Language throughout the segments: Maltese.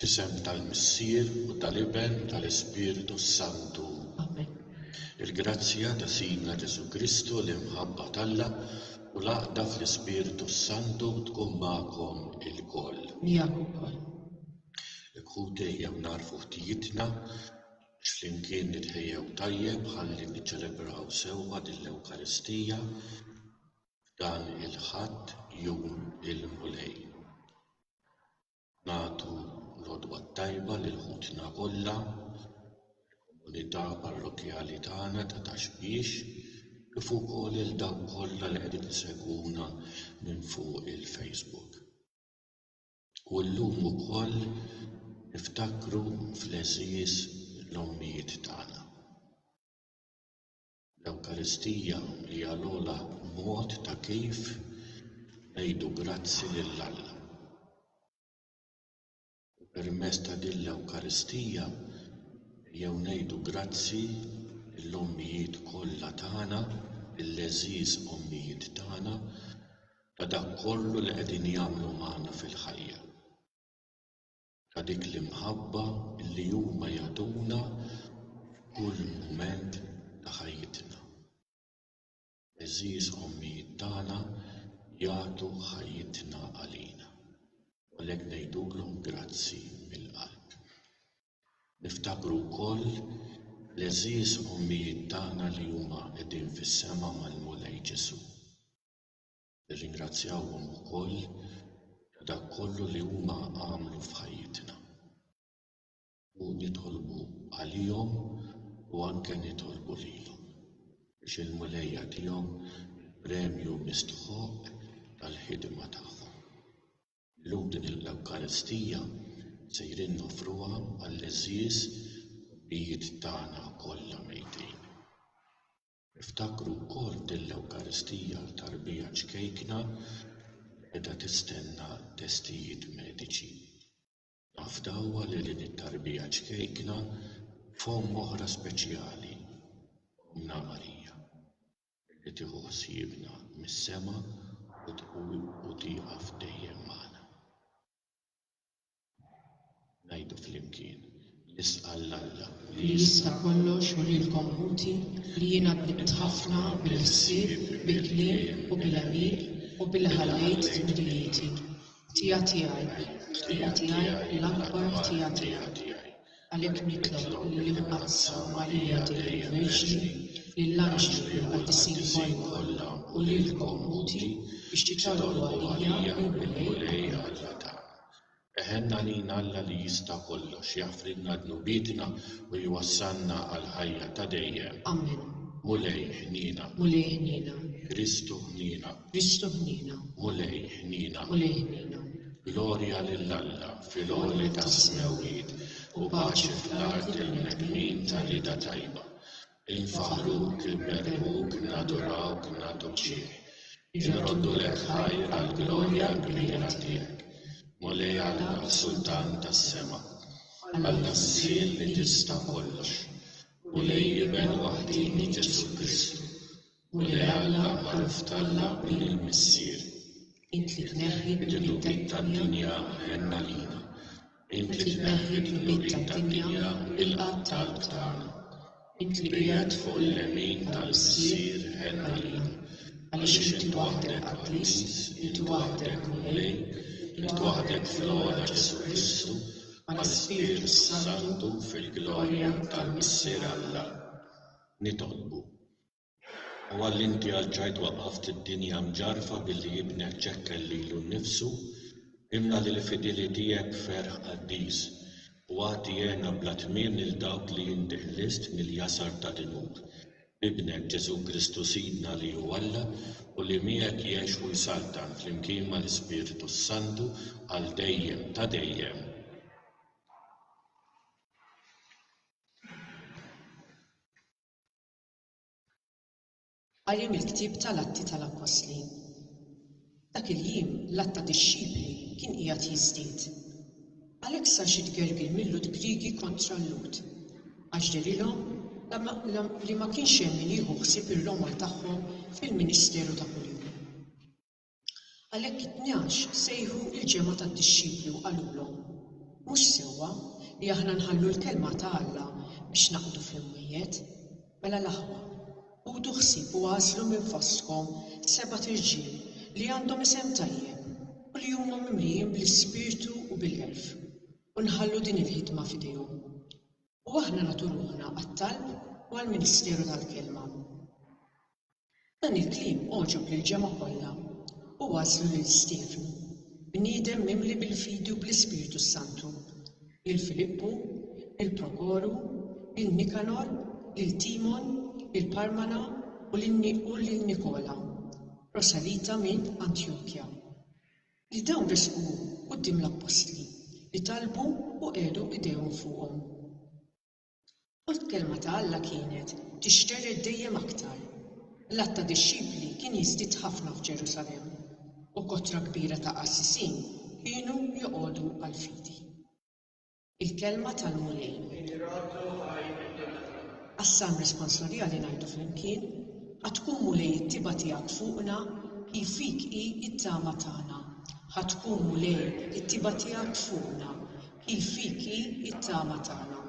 F'isem tal-Missier u tal-Iben u tal-Ispirtu s-Santu. Amen. Il-grazzja ta' Sidna Ġesù Kristu, l-imħabba t'Alla, u l-għaqda fl-Ispirtu s-Santu tkun magħkom ilkoll. Miegħek ukoll. Hekk ħuti ejjew nagħrfu ħtijitna biex flimkien nitħejjew tajjeb ħalli niċċelebraw sewwa din l-Ewkaristija f'dan il-Ħadd, jum il-Mulej. Nagħtu l-għodwa t-tajba lil ħutna kollha fil-komunità parrokkjali tagħna ta' Ta' Xbiex kif ukoll lil dawk kollha li qegħdin isegwuna minn fuq il-Facebook. U llum ukoll niftakru fl-għeżież l-ommijiet tagħna. L-Ewkaristija hija l-ogħla mod ta' kif ngħidu grazzi lil Alla. U permezz ta' din l-Ewkaristija ejjew ngħidu grazzi lill-ommijiet kollha tagħna, lill-għeżież ommijiet tagħna, ta' dak kollu li qegħdin jagħmlu magħna fil-ħajja. ta' dik l-imħabba li huma jagħtuna f'kull mument ta' ħajjitna. L-għeżież ommijiet tagħna jagħtu ħajjitna għalina, u għalhekk ngħidulhom grazzi mill-qalb. Niftakru wkoll l-għeżież ommijiet tagħna li huma qegħdin fis-sema mal-Mulej Ġesù. Nirringrazzjahom ukoll ta' dak kollu li huma għamlu f'ħajjitna. U nitolbu għalihom u anke nitolbu lilhom biex il-Mulej jagħtihom il-premju mistħoqq tal-ħidma tagħhom. Illum din l-Ewkaristija sejrin noffruha għall-għeżież ħobbijiet tagħna kollha mejtin. Iftakru wkoll din l-Ewkaristija ta' Rbigħa ċkejkna li qiegħda tistenna testijiet mediċi. Naf dawwa li lilin ta' Rbigħa ċkejkna f'Omm oħra speċjali, Ommna Marija, li tieħu ħsiebna mis-sema u tieqaf dejjem magħna. Ngħidu flimkien, Nisqa' 'l Alla li jista' kollox u lilkom ħuti li jiena tnibt ħafna bil-ħsieb, bil-kliem u bil-għemil u billi ħallejt tmirijieti. Ħtija tiegħi, ħtija tiegħi, l-akbar ħtija tiegħi. Għalhekk nitlob li nqassam Marija Dei l-Verġni lill-anġli u lill-qaddisin kollha u lilkom uti biex titolbu għalija u l-Mulej Alla tagħna. Eħenna għalina Alla li jista' kollox, jaħfrilna dnubietna u jwassalna għall-ħajja ta' dejjem. Amen. Mulej ħniena. Mulej ħniena. Kristu ħniena. Kristu ħniena. Mulej ħniena. Mulej ħniena. Glorja lil Alla fil-għoli tas-smewwiet u paċi fl-art il-bnedmin ta' rieda tajba. Infaħruk, inberħuk, nadurawk, nagħtuk xieħ. Inroddu lek ħajr għall-glorja kbira tiegħek. Mulej Alla Sultan tas-sema. Alla s-sil li tista' kollox. Mulej Iben waħdini Ġesu Kristu. U li Alla magħruf t'Alla u lil Missier. Int li tneħħi d-dnubiet tad-dinja ħenn għalina. Int li tneħħi d-dnubiet tad-dinja u ilqa' t-talb tagħna. Int li qiegħed fuq il-lemin tal-Missier ħenn għalina. Għaliex int waħdek qaddis, int waħdek Mulej, int waħdek fl-ogħla Ġesù Kristu, mal-Ispirtu s-Santu fil-glorja tal-Missier Alla. Nitolbu. U għal inti għal ġajt waqqaft id-dinja mġarrfa billi ibnek ċekkel lilu nnifsu, imla lil fidili tiegħek b'ferħ qaddis, u agħti hena bla tmiem lil dawk li inti ħlist mill-jasar ta' dnub, b'ibnek Ġesù Kristu Sidna li hu Alla u li miegħek jgħix u jsaltan flimkien mal-Ispirtu s-Santu għal dejjem ta' dejjem. Qari mill-ktieb tal-Atti tal-Appostli Dak il-jiem l-għadd ta' dixxipli kien qiegħed jiżdied. Għalhekk sar xi tgergir mil-Lhud Griegi kontra l-Lhud, għax dehrilhom li ma kienx hemm min jieħu ħsieb ir-roma tagħhom fil-ministeru ta' kuljum. Għalhekk it-tnax sejħu l-ġemgħa tad-dixxipli u qalulhom, Mhux sewwa li aħna nħallu l-kelma ta' Alla biex naqdu fl-imwiet. Mela l-aħwa, ħudu ħsieb u agħżlu minn fostkom sebat irġiel li għandhom isem tajjeb u li huma mimlijin bl-ispirtu u bil-għerf, u nħallu din il-ħidma f'idejhom. U aħna nagħtu ruħna għat-talb u għall-ministeru tal-kelma. Dan il-kliem għoġob lill-ġemgħa kollha u waslu lil Stiefnu, bniedem mimli bil-fidi u bl-Ispirtu s-Santu, lil Filippu, lil Prokoru, lil Nikanor, lil Timon, lil Parmana u lil Nikola, proselita minn Antjokja. Li dawn resqu quddiem l-appostli, li talbu u qiegħdu idejhom fuqhom. U l-Kelma ta' Alla kienet tixterred dejjem aktar. L-għadd ta' dixxipli kien jiżdied ħafna f'Ġerusalemm, u kotra kbira ta' qassisin kienu joqogħdu għall-fidi. Il-Kelma tal-Mulej. Għas-Salm Responsorjali ngħidu flimkien, Ħa tkun Mulej it-tibgħa tiegħek fuqna, hi fik hi t-tama tagħna. Ħa tkun Mulej it-tibgħa tiegħek fuqna. Hi fik hi t-tama tagħna.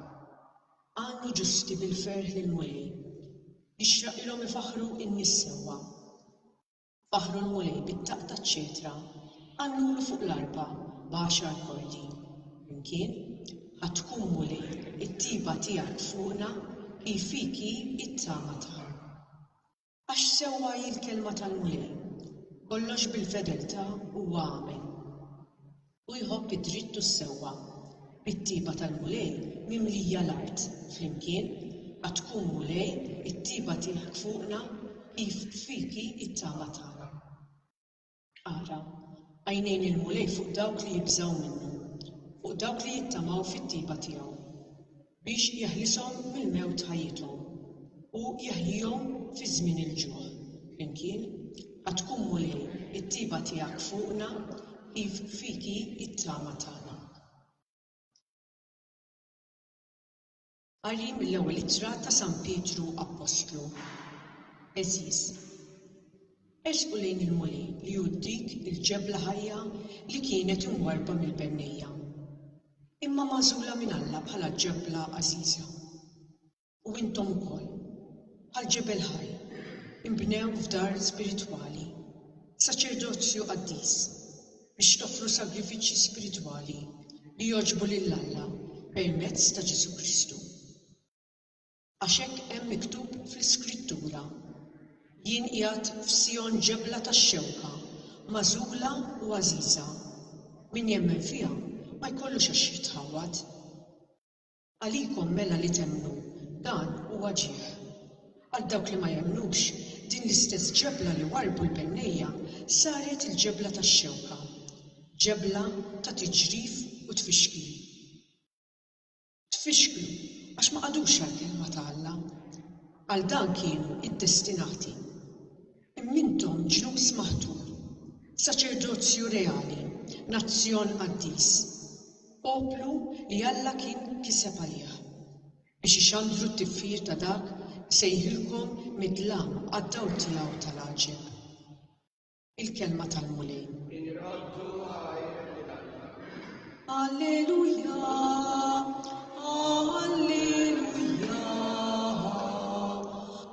Għannu ġusti bil-ferħ l-Mulej. Jixraqilhom ifaħħru n-nies sewwa. Faħħru l-Mulej bit-taqq taċ-ċetra, għannulu fuq l-arpa b'għaxar kordi. Flimkien, Ħa tkun, Mulej, it-tjieba tiegħek fuqna, hi fik hi t-tama tagħna. Għax sewwa hi l-kelma tal-Mulej, Kollox bil-fedeltà huwa għamel, u jħobb id-dritt u s-sewwa, bit-tiepa tal-Mulej mimlija l-art, flimkien, għad tkun, Mulej, it-tiepa tiegħek fuqna, kif fiki t-tama tagħna. Ara, għajnejn il-Mulej fuq dawk li jibżgħu minnu, fuq dawk li jittamaw fit-tjieba tiegħu, biex jeħlishom mill-mewt ħajjithom, u jeħjihom fi żmien il-ġuħ. Flimkien, Ħa tkun, Mulej, it-tjieba tiegħek fuqna, iv fik hi t-tama tagħna. Qari mill-Ewwel Ittra ta' San Pietru Appostlu Għeżież, Ersqu lejn il-Mulej li hu dik il-ġebla ħajja li kienet imwarrba mill-bennejja, imma magħżula minn Alla bħala ġebla għażiża. U intom ukoll, bħal ġebel ħaj, inbnew f'dar spiritwali, saċerdozju qaddis, biex toffru sagrifiċċji spiritwali li jogħġbu lil Alla permezz ta' Ġesù Kristu. Għax hekk hemm miktub fl-Iskrittura, Jien qiegħed f'Sijon ġebla tax-xewka, magħżula u għażiża. Min jemmen fiha ma jkollux għax jitħawwad. Għalikom mela li temmnu, dan huwa ġieħ. Għal dawk li ma jemmnux, din l-istess ġebla li warrbu l-bennejja saret il-ġebla tax-xewka, ġebla ta' tiġrif u tfixkil. Tfixklu għax ma qagħdux għall-Kelma ta' Alla. Għal dan kienu iddestinati. Imma intom ġnus maħtur, saċerdozju reali, nazzjon qaddis, poplu li Alla kien kiseb għalih, biex ixandru t-tifħir ta' dak li sejħilkom mid-dlam għad-dawl tiegħu ta' l-għaġeb. Il-Kelma tal-Mulej. Irroddu għajr lil Alla. Alleluja, Alleluja.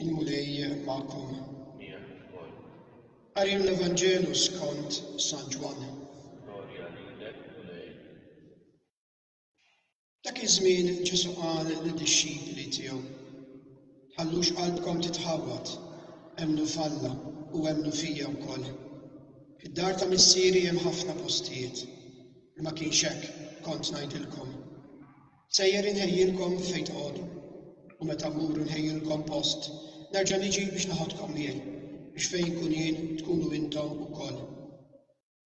Il-Mulej magħkom. Qari l-Evanġelu skont San Ġwann. Dak iż-żmien Ġesù qal lid-dixxipli tiegħu, Tħallux qalbkom titħawwad, emmnu f'Alla u emmnu fija wkoll. Fid-dar ta' Missieri hemm ħafna postijiet, li ma kienx hekk kont ngħidilkom. Sejjer inħejjilkom fejn tqogħdu, u meta mmur inħejjilkom post, nerġa' niġi biex naħodkom miegħi, biex fejn kun jien tkunu intom ukoll.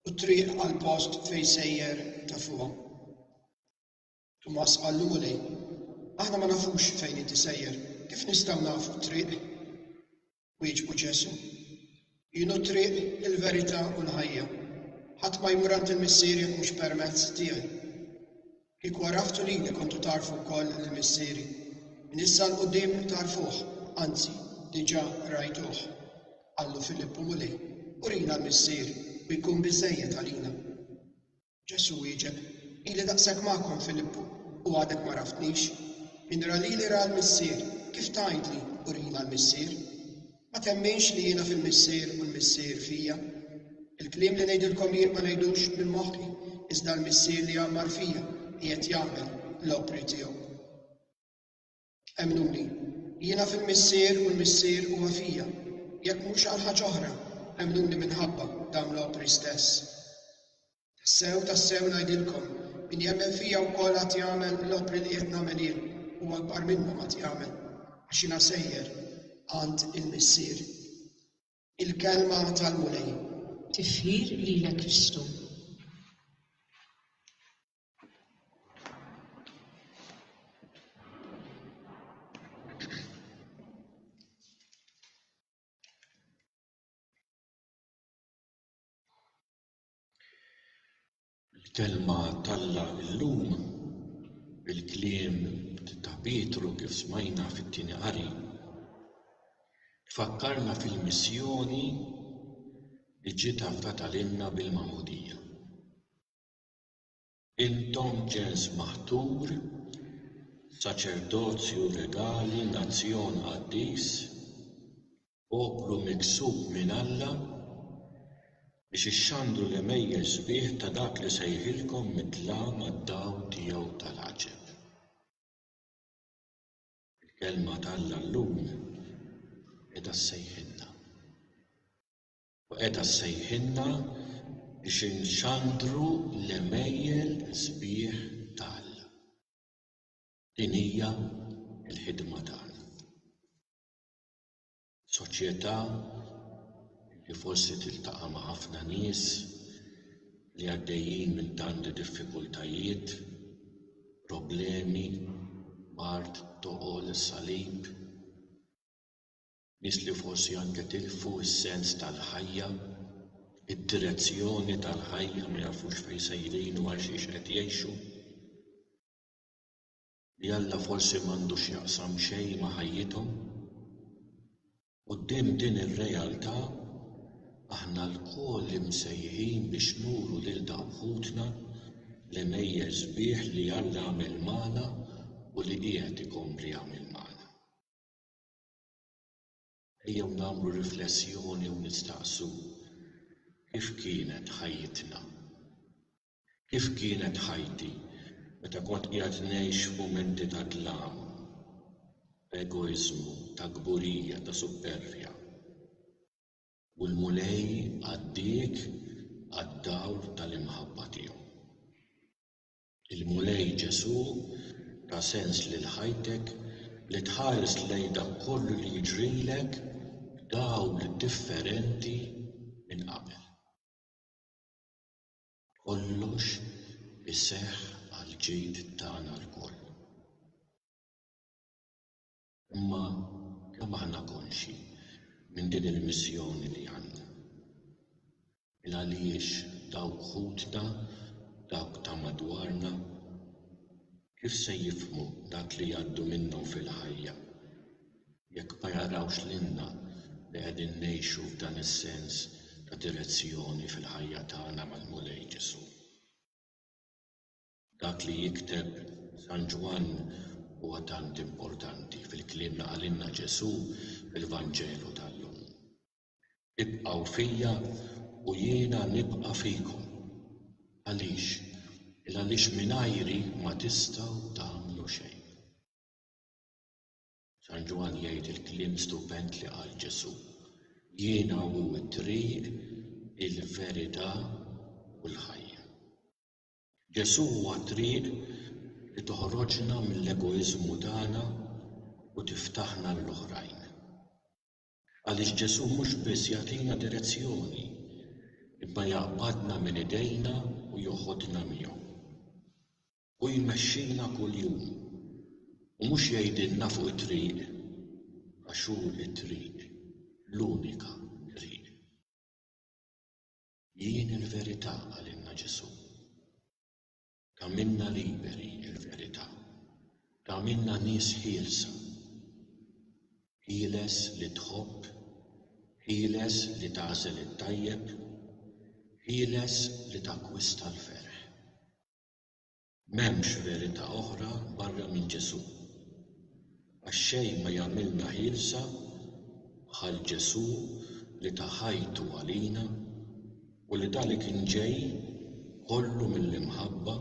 u t-triq għall-post fejn sejjer ta' fuqhom. Tumas qallu Mulej, aħna ma nafux fejn inti sejjer, kif nistgħu nafu t-triq? Wieġbu Ġesu, Jien hu triq il-verità u l-ħajja. Ħadd ma jmur għand il-Missier jekk mhux permezz tiegħi. Kieku għaraftu lili kontu tagħrfu wkoll lil Missieri. Minn issa 'l quddiem tagħrfuh, anzi, diġà rajtuh. Qallu Filippu, Mulej, urina l-Missier, u jkun biżżejjed għalina. Ġesù wieġeb, Ili daqshekk magħkom, Filippu, u għadek m'għaraftnix? Min ra lili ra l-Missier, kif tgħidli, Urina l-Missier? Ma temminx li jiena fil-Missier u l-Missier fija. Il-kliem li ngħidilkom jien ma ngħidux minn moħħi, iżda l-Missier li għammar fija qiegħed jagħmel l-opri tiegħu. Emmnuni, jiena fil-Missier u l-Missier huwa fija, jekk mhux għal ħaġa oħra, emmnuni minħabba dawn l-opri stess. Tassew, tassew ngħidilkom, min jemmen fija wkoll għad jagħmel l-opri li qed nagħmel jien, u akbar minnhom għad jagħmel, għax jiena sejjer għand il-Missier. Il-kelma tal-Mulej. Tifħir lilek Kristu. Il-Kelma t'Alla llum, il-kliem ta' Pietru kif smajna fit-tieni qari, tfakkarna fil-missjoni li ġiet afdata lilna bil-Magħmudija. Intom ġens maħtur, saċerdozju regali, nazzjon qaddis, poplu miksub minn Alla, biex ixxandru l-għemejjex sbieħ ta' dak li sejħilkom mid-dlam għad-dawl tiegħu tal-għaġeb. Il-Kelma t'Alla llum qiegħda ssejħilna. U qiegħda ssejħilna biex inxandru l-għemejjel sbieħ ta' Alla. Din hija l-ħidma tagħna. Soċjetà li forsi tiltaqa' ma' ħafna nies li għaddejjin minn tanti diffikultajiet, problemi, mard, toqol, salib, Nies li forsi anke tilfu s-sens tal-ħajja, id-direzzjoni tal-ħajja, ma jafux fejn sejrin u għalxiex qed jgħixu. Li Alla forsi m'għandu x'jaqsam xejn ma' ħajjithom. Quddiem din ir-realtà, aħna lkoll imsejħin biex nuru lil dawk ħutna l-għemejjel sbieħ li Alla għamel magħna u li qiegħed ikompli jagħmel magħna. Ejjew nagħmlu riflessjoni u nistaqsu, Kif kienet ħajjitna? Kif kienet ħajti meta kont qiegħed ngħix f'mumenti ta' dlam, ta' egoiżmu, ta' kburija, ta' suppervja? U l-Mulej għaddiek għad-dawl tal-imħabba tiegħu. Il-Mulej Ġesù ta sens lil ħajtek li tħares lejn dak kollu li jiġrilek b'dawl differenti minn qabel. Kollox iseħħ għall-ġid tagħna lkoll. Imma kemm aħna konxji minn din il-missjoni li għandna? Ilgħaliex dawk ħutna, dawk ta' madwarna, kif se jifhmu dak li jgħaddu minnhom fil-ħajja jekk ma jarawx lilna li qegħdin ngħixu f'dan is-sens ta' direzzjoni fil-ħajja tagħna mal-Mulej Ġesù? Dak li jikteb San Ġwann huwa tant importanti fil-kliem li qalilna Ġesù fil-Vanġelu tal-lum, Ibqgħu fija u jiena nibqa' fikom. Għaliex? Il-għaliex mingħajri ma tistgħu tagħmlu xejn. San Ġwann jgħid il-kliem stupend li qal Ġesù, Jiena hu t-triq, il-verità u l-ħajja. Ġesù huwa t-triq li toħroġna mill-egoiżmu tagħna u tiftaħna għall-oħrajn. Għaliex Ġesù mhux biss jagħtina direzzjoni, imma jaqbadna minn idejna u joħodna miegħu. Hu jmexxina kuljum, u mhux jgħidilna fuq it-triq, għax hu t-triq, l-unika triq. Jien il-verità qalilna Ġesù. Tagħmilna liberi l-verità. Tagħmilna nies ħielsa. Ħieles li tħobb, ħieles li tagħżel it-tajjeb, ħieles li takkwista l-ferħ. M'hemmx verità oħra barra minn Ġesù. Għax xejn ma jagħmilna ħielsa bħal Ġesù li ta ħajtu għalina u li dali kien ġej kollu mill-imħabba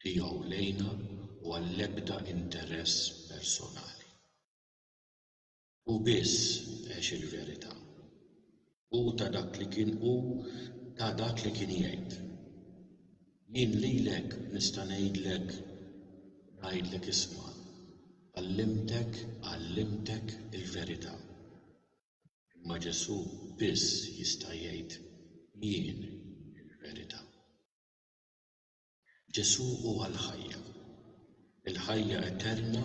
Tiegħu lejna u għall-ebda interess personali. Hu biss għex il-verità. Hu ta dak li kien hu ta dak li kien jgħid. Jien lilek nista' ngħidlek ngħidlek isma' għallimtek għallimtek il-verità. Imma Ġesù biss jista' jgħid jien il-verità. Ġesù huwa l-ħajja. Il-ħajja eterna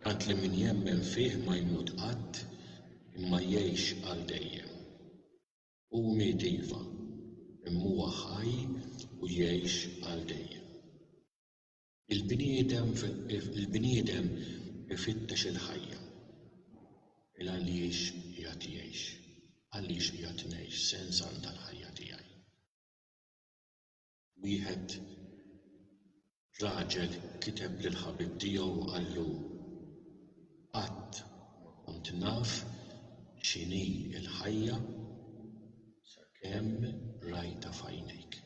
tant li min jemmen fih ma jmut qatt imma jgħix għal dejjem. Hu miet iva, imma huwa ħaj u jgħix għal dejjem. Il-bniedem il-bniedem ifittex il-ħajja. Il-għaliex qiegħed jgħix? Għaliex qiegħed ngħix? X'sens għandha l-ħajja tiegħi? Wieħed raġel kiteb lil ħabib tiegħu u qallu, Qatt ma kont naf x'inhi l-ħajja sakemm rajtha f'għajnejk.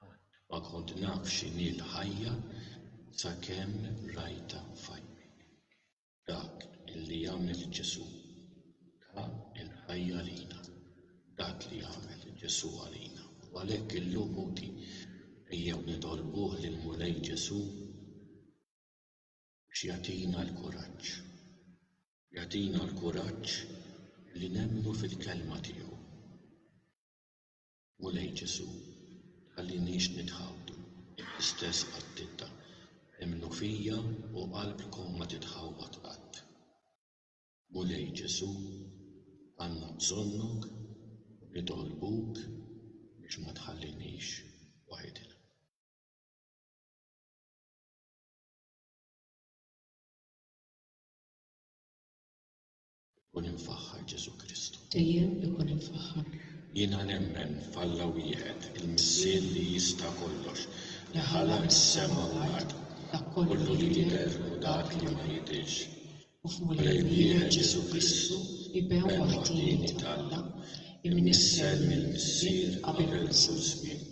Qatt ma kont naf x'inhi l-ħajja sakemm rajtha f'għajnejk. Dak li għamel Ġesù ta l-ħajja għalina. Dak li għamel Ġesù għalina. U għalhekk illum ħuti ejjew nitolbuh lill-Mulej Ġesù biex jagħtina l-kuraġġ. Jagħtina l-kuraġġ li nemmnu fil-Kelma tiegħu. Mulej Ġesù, tħalliniex nitħawdu, l-istess qattita, emmnu fija u qalbkom ma titħawwad qatt. Mulej Ġesù, għandna bżonnok u nitolbuk biex ma tħalliniex waħidna. Ikun imfaħħar Ġesù Kristu. Dejjem ikun imfaħħar. Jiena nemmen f'Alla wieħed, il-Missier li jista' kollox, li ħalaq is-sema u l-art, kollu li jidher u dak li ma jidhirx, u f'Mulej wieħed Ġesù Kristu, Iben waħdieni t'Alla, imnissel mill-Missier qabel kull żmien.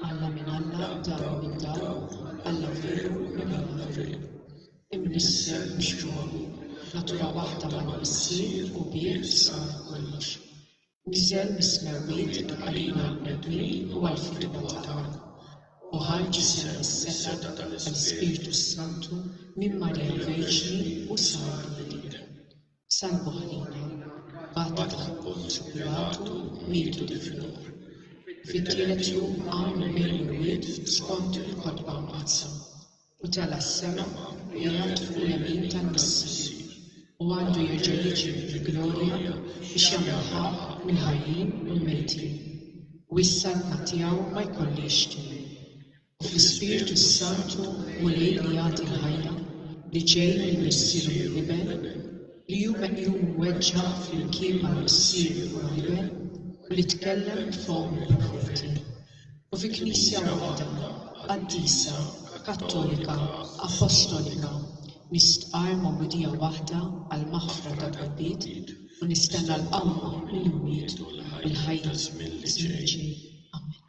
Alla minn Alla, Dawl minn Dawl, Alla veru minn Alla veru. Imnissel mhux ġuħu, natura waħda mal-Missier u bih sar kollox. Niżel mis-smewwiet għalina l-bnedmin u għall-fidwa tagħna. U ħa ġisem is-seta tal-Ispirtu s-Santu minn Marija l-Verġni u sar bniedem. Salvu ħlina, bagħtet l-appunt Pilatu mietu difnuh. Fit-tielet jum qam minn bejn l-imwiet skont il-kotba Mqaddsa, u tela' s-sema u qiegħed fuq il-jemin tal-Missier, u għandu jerġa' jiġi fil-glorja biex jagħmel ħaqq mill-ħajjin u l-mejtin, u s-saltna tiegħu ma jkollhiex tmiem. u fl-Ispirtu s-Santu Mulej li jagħti l-ħajja, li ġej minn Missieru mill-Iben, li hu meqjum imweġġa' flimkien mal-Missier u l-Iben, u li tkellem b'fomm il-profeti, u fi Knisja waħda, qaddisa, kattolika, appostolika, nistqarr magħmudija waħda għall-maħfra tad-dnubbiet u nistenna l-qawma mill-imwiet u l-ħajja fiż-żmien li ġej. Amen.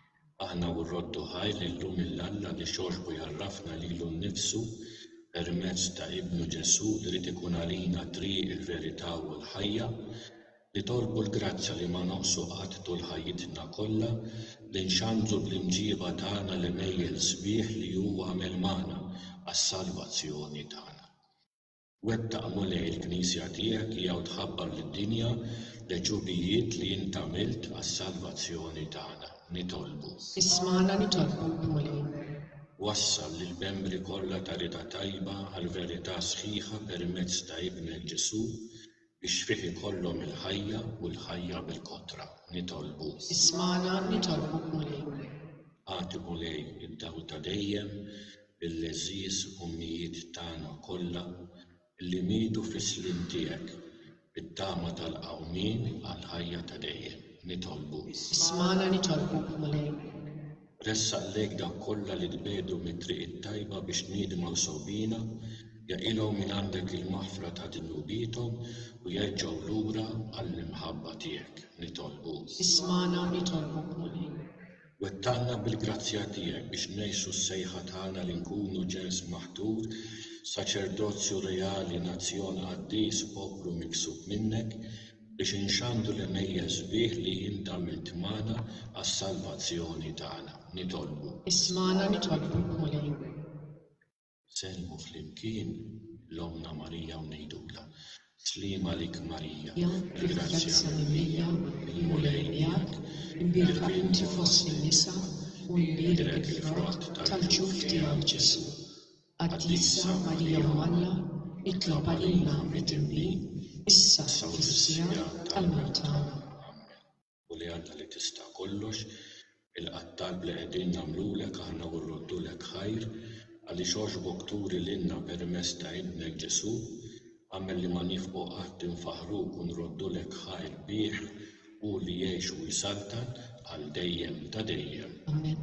Aħna u r-rodd u ħajr li llum il-Alla li xorbu jgħarrafna lilu nnifsu permezz ta' Ibnu Ġesù irid ikun għalina t-triq, il-verità u l-ħajja. Nitolbu l-grazzja li ma noqsu qatt tul ħajjitna kollha li nxandru bl-imġieba tagħna l-għemejjel sbieħ li hu għamel magħna għas-salvazzjoni tagħna. Wettaq, Mulej, il-Knisja tiegħek li hawn tħabbar lid-dinja l-għeġubijiet li int għamilt għas-salvazzjoni tagħna. Nitolbu. Ismagħna nitolbuk, Mulej. Wassal lill-membri kollha ta' Rida Tajba għall-verità sħiħa permezz ta' Ibnek Ġesù, Biex fih ikollhom il-ħajja u l-ħajja bil-kotra. Nitolbu. Ismagħna, nitolbuk Mulej. Agħti Mulej id-dawl ta' dejjem lill-għeżież ommijiet tagħna kollha li mietu fis-sliem tiegħek, bit-tama tal-qawmien għall-ħajja ta' dejjem. Nitolbu. Ismagħna, nitolbuk Mulej. Ressaq lejk dawk kollha li tbiegħdu mit-triq it-tajba biex tniedmaw sewbiena, jaqilgħu mingħandek il-maħfra ta' dnubiethom u jerġgħu lura għall-imħabba tiegħek. Nitolbuk. Ismagħna, nitolbuk, Mulej. Wettaqna bil-grazzja tiegħek biex ngħixu s-sejħa tagħna li nkunu ġens maħtur, saċerdozju reali, nazzjon qaddis, poplu miksub minnek, biex inxandru l-għemejjel sbieħ li int għamilt magħna għas-salvazzjoni tagħna, nitolbu. Ismagħna nitolbuk, Mulej. Nsellmu flimkien lil Ommna Marija u ngħidulha, Sliema għalik Marija, il-grazzja mimlija, il-Mulej miegħek, imbierka inti fost in-nisa u mbierek il-frott tal-ġuf tiegħek Ġesù. Qaddisa Marija Omm Alla, itlob għalina midinbin, issa u fis-siegħa tal-mewt tagħna. Ammen. U li Alla li tista' kollox, il-qattal li qegħdin nagħmlulek aħna u rroddulek ħajr, għaliex għoxbok turi lilna permezz ta' Ibnek Ġesù, agħmel li ma nifqu qatt infaħħruk u nroddulek ħajr bih, hu li jgħix u jsaltan għal dejjem ta' dejjem. Ammen.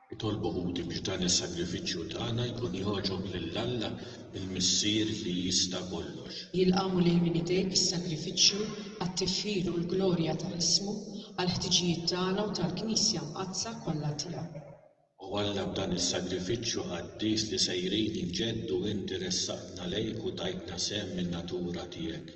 Itolbu ħuti biex dan is-sagrifiċċju tagħna jkun jogħġob lil Alla, il-Missier li jista' kollox. Jilqgħu lejn min idejk is-sagrifiċċju għat-tifħir u l-glorja ta' ismu, għall-ħtiġijiet tagħna u tal-Knisja mqaddsa kollha tiegħu. O Alla, b'dan is-sagrifiċċju qaddis li sejrin inġeddu inti ressaqtna lejk u tajtna sehem min-natura tiegħek.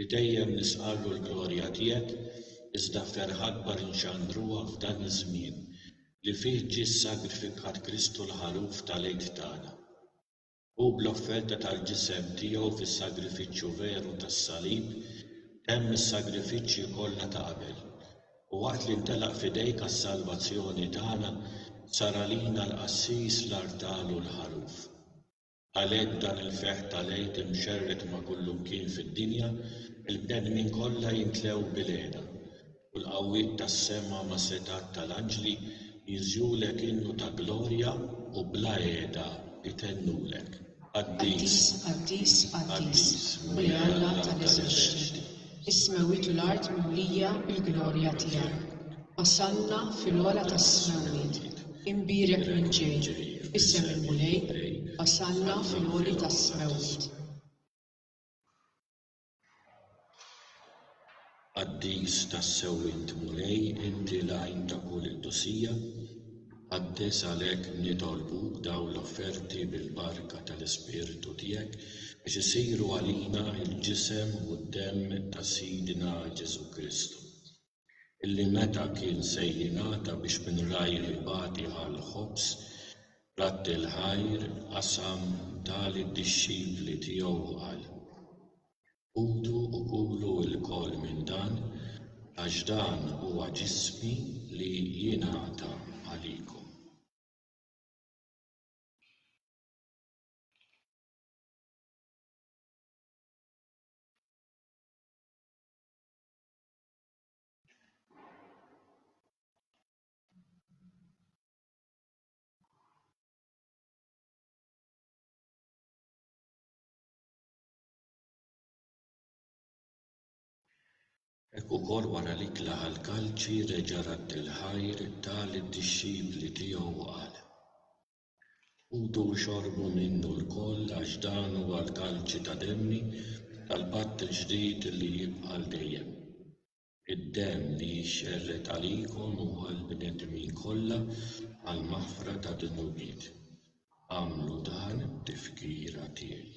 Li dejjem nisqarru l-glorja tiegħek, iżda ferħ akbar inxandruha f'dan iż-żmien li fih ġie ssagrifikat Kristu l-Ħaluf tal-għid tagħna. Hu bl-offerta tal-ġisem tiegħu fis-sagrifiċċju veru tas-salib temm is-sagrifiċċji kollha ta' qabel, u waqt li ntelaq f'idejk għas-salvazzjoni tagħna, sar għalina l-Qassis, l-Artal u l-Ħaluf. Għalhekk dan il-ferħ ta' l-Għid imxerred ma' kullimkien fid-dinja, il-bnedmin kollha jimtlew bil-hena, u l-qawwiet tas-sema mas-setgħat ta' l-anġli jiżjulek innu ta' glorja, u bla heda itennulek, Qaddis, Qaddis, Qaddis, Mulej Alla ta' l-eżerċti! Is-smewwiet u l-art mimlija bil-glorja tiegħek. Osanna fil-ogħla tas-smewwiet. Imbierek min ġej b'isem il-Mulej, osanna fil-għoli tas-smewwiet. Qaddis tas-sewwiet Mulej, inti l-għajn ta' kull intusija. Qaddis għalhekk nitolbuk dawn l-offerti bil-barka tal-Ispirtu tiegħek biex isiru għalina l-Ġisem u d-Demm ta' Sidna Ġesù Kristu, illi meta kien se jingħata biex minn rajh ibati għall-ħobż rat il-ħajr qasam, ta lid-dixxipli tiegħu u qal, Ħudu u kulu lkoll minn dan, għax dan huwa ġismi li jingħata għalikom. Hekk ukoll wara li tlaqa' l-kalċi reġa' radd il-ħajr, ta lid-dixxipli tiegħu u qal, Ħudu u xorbu minnu lkoll għax dan huwa l-kalċi ta' demmi tal-patt il-ġdid li jibqa' għal dejjem. Id-demm li jixxerred għalikom u għall-bnedmin kollha għall-maħfra tad-dnubiet. Agħmlu dan b'tifkira tiegħi.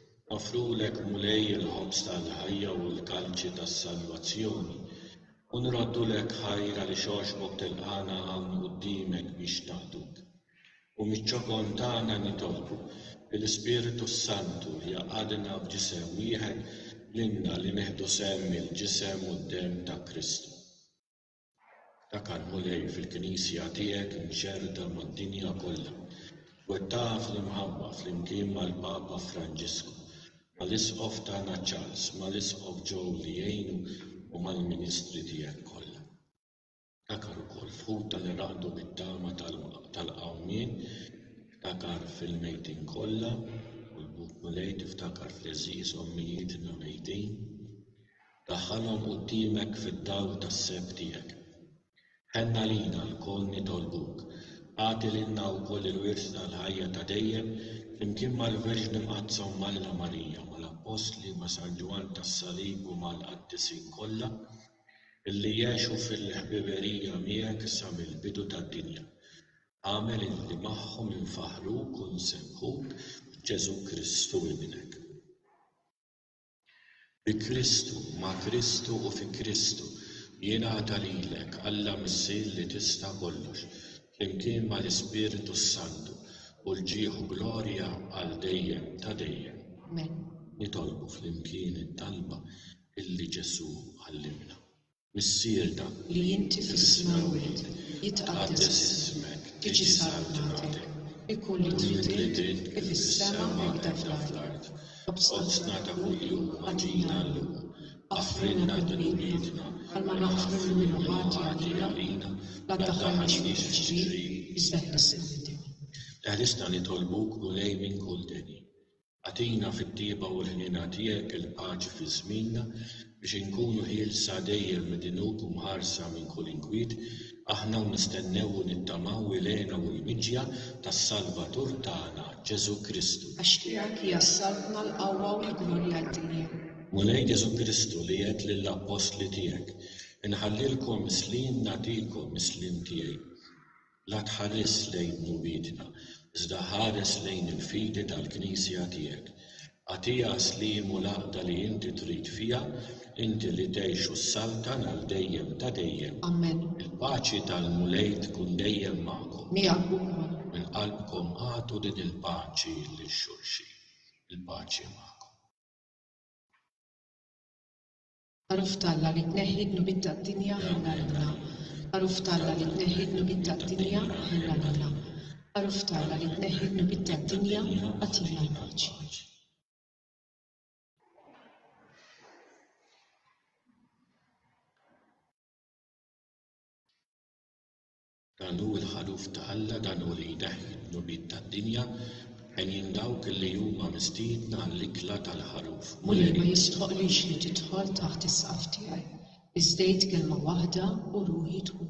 Noffrulek, Mulej, il-ħobż tal-ħajja u l-kalċi tas-salvazzjoni, u nroddulek ħajr għaliex għoxbok tilqagħna hawn quddiemek biex naqduk. U miċ-ċokon tagħna nitolbu li l-Ispirtu s-Santu jgħaqqadna f'ġisem wieħed lilna li nieħdu sehem mill-ġisem u d-demm ta' Kristu. Ftakar, Mulej, fil-Knisja tiegħek imxerrda mad-dinja kollha, twettaqha fl-imħabba flimkien mal-Papa Franġisku, mal-Isqof tagħna Charles, mal-Isqof Joe li jgħinu u mal-ministri tiegħek kollha. Ftakar ukoll f'ħutna li raqdu bit-tama tal-qawmien, ftakar fil-mejtin kollha, u l-Buk Mulej tiftakar fl-għeżież ommijietna mejtin. Daħħalhom quddiemek fid-dawl tas-seb tiegħek. Ħenn għalina lkoll nitolbuk, agħti lilna wkoll il-wirt tal-ħajja ta' dejjem flimkien mal-Verġni Mqaddsa Ommnna Marija, mal-Appostli, ma' San Ġwann tas-Salib u mal-Qaddisin kollha illi għexu fil-ħbiberija miegħek sa mill-bidu tad-dinja. Agħmel illi magħhom infaħħruk u nsebbħuk b'Ġesù Kristu Ibnek. Bi Kristu, ma' Kristu u fi Kristu, jingħata lilek, Alla Missier li tista' kollox, flimkien mal-Ispirtu s-Santu, u l-ġieħ u glorja għal dejjem ta' dejjem. Amen. Nitolbu flimkien it-talba illi Ġesù għallimna. Missierna, li inti fis-smewwiet jitqaddes ismek, tiġi salutnatek, ikun li trid int, kif fis-sema hekk fl-art. Qobżna ta' kuljum agħtina llum. Aħfrilna dnubietna, bħalma naħfru lil min hu ħati għalina, la ddaħħalniex fit-tiġrib, iżda ħlisna mid-dinja. Eħlisna nitolbuk, Mulej, minn kull deni. Agħtina fit-tjieba u l-ħniena tiegħek il-paċi fi żmienna biex inkunu ħielsa dejjem mid-dnub u mħarsa minn kull inkwiet, aħna u nistennew u nittamaw il-hena u l-miġja tas-Salvatur tagħna, Ġesù Kristu. Għax tiegħek hija s-saltna, l-qawwa u l-glorja għal dejjem. Mulej Ġesù Kristu li għedt lill-appostli tiegħek, Inħallilkom is-sliem nagħtikom, is-sliem tiegħi. La tħares lejn mumiedna, iżda ħares lejn il-fidi tal-Knisja tiegħek. Agħtiha s-sliem u l-għaqda li inti trid fiha, inti li tgħix u ssaltan għal dejjem ta' dejjem. Amen. Il-paċi tal-Mulej tkun dejjem magħkom. Miegħek ukoll. Minn qalbkom agħtu din il-paċi lil xulxin. Il-paċi magħkom. Għaruf t'Alla li tneħħi d-dnubiet tad-dinja ħenna lilna Għaruf t'Alla li tneħħi d-dnubiet tad-dinja ħenna lilna Għaruf t'Alla li tneħħi d-dnubiet tad-dinja agħtina l-paċi. Dan hu l-ħaluf ta' Alla, dan hu li jneħħi d-dnubiet tad-dinja, għenjin dawk li huma mistiedna għall-ikla tal-ħaluf. Mulej ma jistħoqqlix li tidħol taħt is-saqaf tiegħi, iżda għid kelma waħda u ruħi tkun.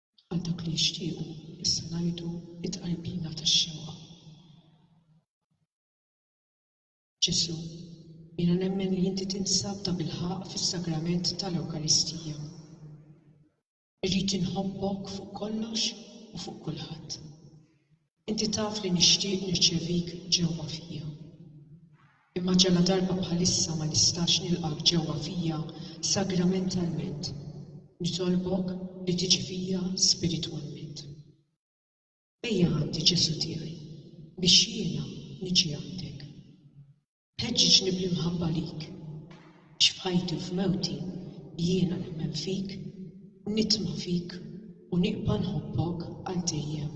Għal dawk li jixtiequ, issa ngħidu t-tqarbina tax-xewqa. Ġesù, jiena nemmen li inti tinsab tabilħaqq fis-sagrament tal-Ewkaristija. Irrid inħobbok fuq kollox u fuq kulħadd. Inti taf li nixtieq nirċevik ġewwa fija. Imma ġaladarba bħalissa ma nistax nilqgħek ġewwa fija sagramentalment, nitolbok li tiġi fija spiritwalment. Ejja għandi, Ġesù tiegħi, biex jiena niġi għandek. Ħeġġiġni bl-imħabba lik. Għax f'ħajti u f'mewti jiena nemmen fik, nitma' fik u nibqa' nħobbok għal dejjem.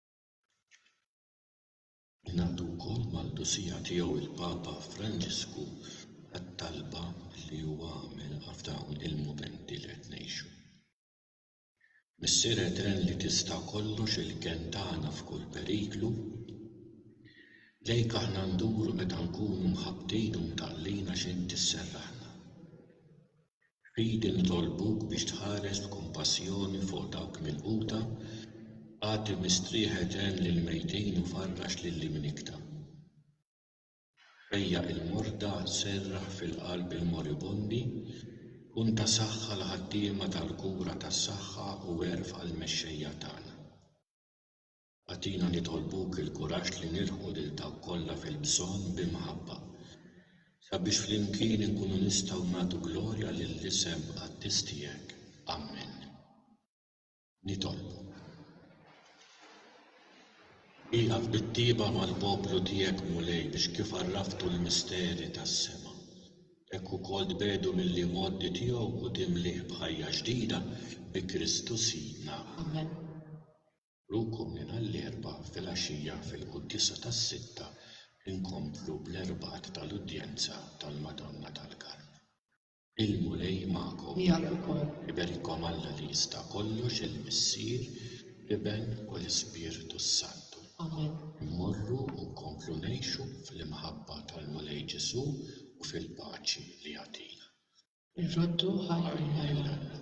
Ngħaqdu wkoll mal-Qdusija Tiegħu il-Papa Franġisku għat-talba li huwa għamel f'dawn il-mumenti li qed ngħixu. Missier Etern li tista' kollox il-kenn tagħna f'kull periklu, lejk aħna nduru meta nkunu mħabbtin u mtaqlin għax Int isserraħna. Fidi nitolbuk biex tħares b'kumpassjoni fuq dawk milquta, agħti mistrieħ etern lill-mejtin u farrax lil min ikta. Fejjaq il-morda, serraħ fil-qalb il-moribondi, kun ta' saħħa għall-ħaddiema tal-kura tas-saħħa u erfa' l-mexxejja tagħna. Agħtina nitolbuk il-kuraġġ li nilħqu lil dawk kollha fil-bżonn bi mħabba, sabiex flimkien inkunu nistgħu nagħtu glorja lill-isem qaddis tiegħek. Ammen. Nitolbuk. Ieqaf bit-tieba mal-poplu tiegħek Mulej biex kif għarraftu l-misteri tas-sema, hekk ukoll tbegħdu mill-imgħoddi tiegħu u timlih b'ħajja ġdida bi Kristu Sidna. Ammen. Rukom lilha l-Erbgħa filgħaxija fil-Quddiesa tas-Sitta inkomplu bl-Erbgħat tal-Udjenza tal-Madonna tal-Karm. Il-Mulej magħkom. Miegħek ukoll. Iberikom Alla li jista' kollox il-Missier, l-Iben u l-Ispirtu s-Santu. Amen. Immorru u nkomplu ngħixu fl-imħabba tal-Mulej Ġesù u fil-paċi li jagħtina. Irroddu ħajr lil Alla.